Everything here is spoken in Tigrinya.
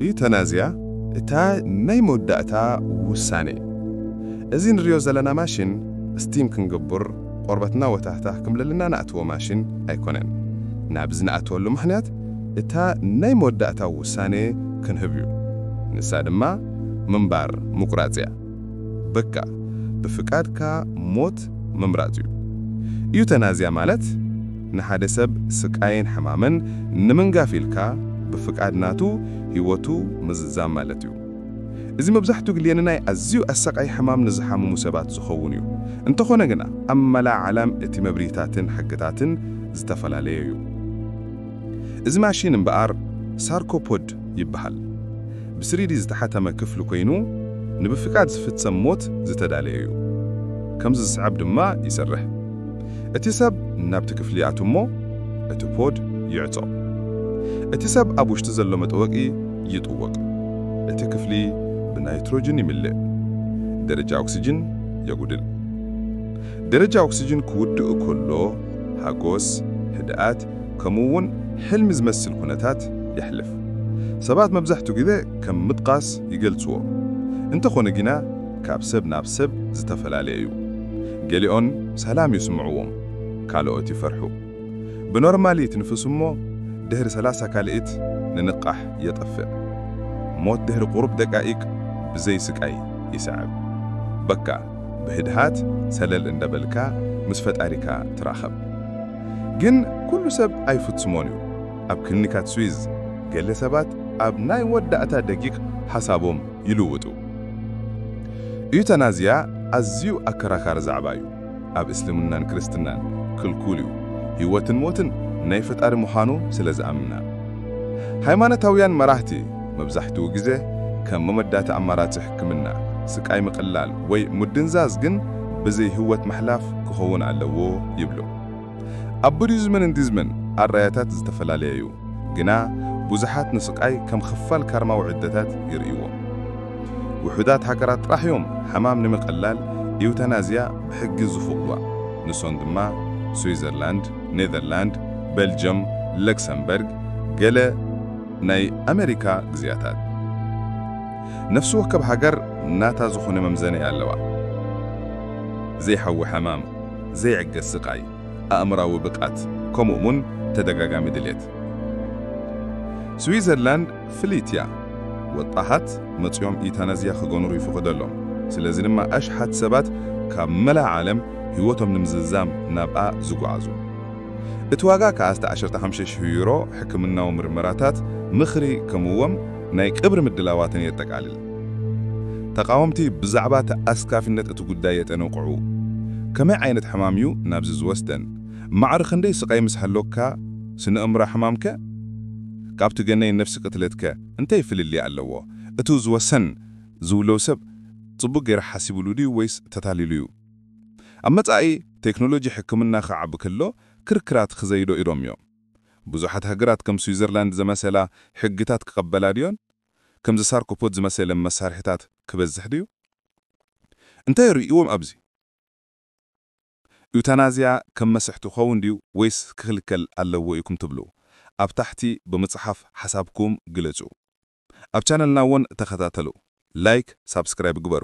ዩተናዝያ እታ ናይ መወዳእታ ውሳነ እዩ። እዚ ንሪኦ ዘለና ማሽን ስቲም ክንግቡር ቆርበትና ወታህታህ ክምለልና ንኣትዎ ማሽን ኣይኮነን። ናብዚ ንኣትወሉ ምኽንያት እታ ናይ መወዳእታ ውሳነ ክንህብ እዩ። ንሳ ድማ ምንባር፣ ምቁራጽ፣ እያ። በቃ ብፍቃድካ ሞት ምምራጽ እዩ። ኢዩተናዝያ ማለት ንሓደ ሰብ ስቃይን ሕማምን ንምንጋፍ ኢልካ ብፍቃድ ናቱ ህይወቱ ምዝዛም ማለት እዩ። እዚ መብዛሕትኡ ግልየ ንናይ ኣዝዩ ኣሰቃይ ሕማም ንዝሓምሙ ሰባት ዝኸውን እዩ። እንተኾነ ግና ኣብ መላእ ዓለም እቲ መብርሂታትን ሕግታትን ዝተፈላለየ እዩ። እዚ ማሺን እምበኣር ሳርኮፖድ ይበሃል። ብስሪዲ ዝተሓተመ ክፍሊ ኮይኑ ንብፍቃድ ዝፍጸም ሞት ዝተዳለየ እዩ። ከምዚ ዝስዕብ ድማ ይሰርሕ። እቲ ሰብ ናብቲ ክፍሊ ይኣቱ እሞ እቲ ፖድ ይዕጾ። እቲ ሰብ ኣብ ውሽጢ ዘሎ መጠወቂ ይጥወቅ። እቲ ክፍሊ ብናይትሮጅን ይምልእ። ደረጃ ኦክስጅን የጉድል። ደረጃ ኦክስጅን ክውድእ ከሎ ሃጎስ፣ ህድኣት፣ ከምኡ'ውን ሕልሚ ዝመስል ኩነታት የሕልፍ። ሰባት መብዛሕትኡ ግዜ ከም ምጥቓስ ይገልጽዎ፣ እንተኾነ ግና ካብ ሰብ ናብ ሰብ ዝተፈላለየ እዩ። ገሊኦን ሰላም ይስምዕዎም፣ ካልኦት ይፈርሑ። ብኖርማሊት ንፍስ እሞ ድሕሪ ሰላሳ ካልኢት ንንቓሕ የጠፍእ። ሞት ድሕሪ ቁሩብ ደቃይቅ ብዘይ ስቃይ ይሰዕብ። በቃ ብህድሃት ሰለል እንዳበልካ ምስ ፈጣሪካ ትራኸብ። ግን ኩሉ ሰብ ኣይፍጽሞን እዩ። ኣብ ክሊኒካት ስዊዝ ገለ ሰባት ኣብ ናይ ወዳእታ ደጊቕ ሓሳቦም ይልውጡ። ኢዩታናዝያ ኣዝዩ ኣከራካሪ ዛዕባ እዩ። ኣብ እስልምናን ክርስትናን ክልኩል እዩ፣ ህይወትን ሞትን ናይ ፈጣሪ ምዃኑ ስለ ዝኣምና። ሃይማኖታውያን መራህቲ መብዛሕትኡ ግዜ ከም መመዳቲ ኣማራጺ ሕክምና፣ ስቃይ ምቕላል ወይ ምድንዛዝ ግን ብዘይ ህወት ምሕላፍ ክኸውን ኣለዎ ይብሉ። ኣብ ቡዲዝምን እንዲዝምን ኣራያታት ዝተፈላለየ'ዩ፣ ግና ብዙሓት ንስቃይ ከም ክፋል ካርማዊ ዕደታት ይርእይዎ። ውሑዳት ሃገራት ጥራሕ'ዮም ሕማም ንምቐላል ኢውታናዝያ ብሕጊ ዝፍቕዱዋ፣ ንሶን ድማ ስዊዘርላንድ፣ ኔዘርላንድ፣ በልጅም፣ ለክሰምበርግ፣ ገለ፣ ናይ ኣመሪካ ግዝያታት ነፍሲ ወከብ ሃገር ናታ ዝኾነ መምዘነኢ ኣለዋ። ዘይሓዊ ሕማም፣ ዘይዕገስ ስቃይ፣ ኣእምራዊ ብቃት ከምኡ እውን ተደጋጋሚ ድሌት። ስዊዘርላንድ ፍልይቲ እያ። ወጣሃት መጽዮም ኢታናዝያ ክገኑሩ ይፍቅደሎም። ስለዚ ድማ ኣሽሓት ሰባት ካብ መላእ ዓለም ህይወቶም ንምዝዛም ናብኣ ዝጉዓዙ። እቲ ዋጋ ከኣ እስተ ዓሸርተ ሓምሽተ ሽሕ ዩሮ፣ ሕክምናዊ ምርመራታት፣ ምኽሪ፣ ከምእዎም ናይ ቅብሪ ምድላዋትን የጠቃልል። ተቃወምቲ ብዛዕባ ተኣስካፊነት እቲ ጉዳይ የጠንቕዑ። ከመይ ዓይነት ሕማም እዩ ናብዚ ዝወስደን? ማዕሪ ክንደይ ስቃይ ምስ ሃሎካ ስነእምራ ሕማም ከ? ካብቲ ገነይ ነፍሲ ቅትለት ከ እንታይ ፍልልይ ኣለዎ? እቱ ዝወሰን ዝውለው ሰብ ጽቡቅ ገይሩ ሓሲብሉ ድዩ ወይስ ተታሊሉ እዩ? ኣብ መጻኢ ቴክኖሎጂ ሕክምና ክዓቢ ከሎ ክርክራት ክዘይዶ ኢሎም እዮም። ብዙሓት ሃገራት ከም ስዊዘርላንድ ዘመሰላ ሕግታት ክቐበላ ድዮን? ከምዚ ሳርኮፖድ ዝመሰለ መሳርሒታት ክበዝሕ ድዩ? እንታይ ርእይዎም ኣብዚ? ዩታናዝያ ከም መስሕቲ ክኸውን ድዩ ወይስ ክኽልከል ኣለዎ ኢኩም ትብሉ? ኣብ ታሕቲ ብምጽሓፍ ሓሳብኩም ግለጹ። ኣብ ቻነልና ወን ተኸታተሉ፣ ላይክ ሳብስክራይብ ግበሩ።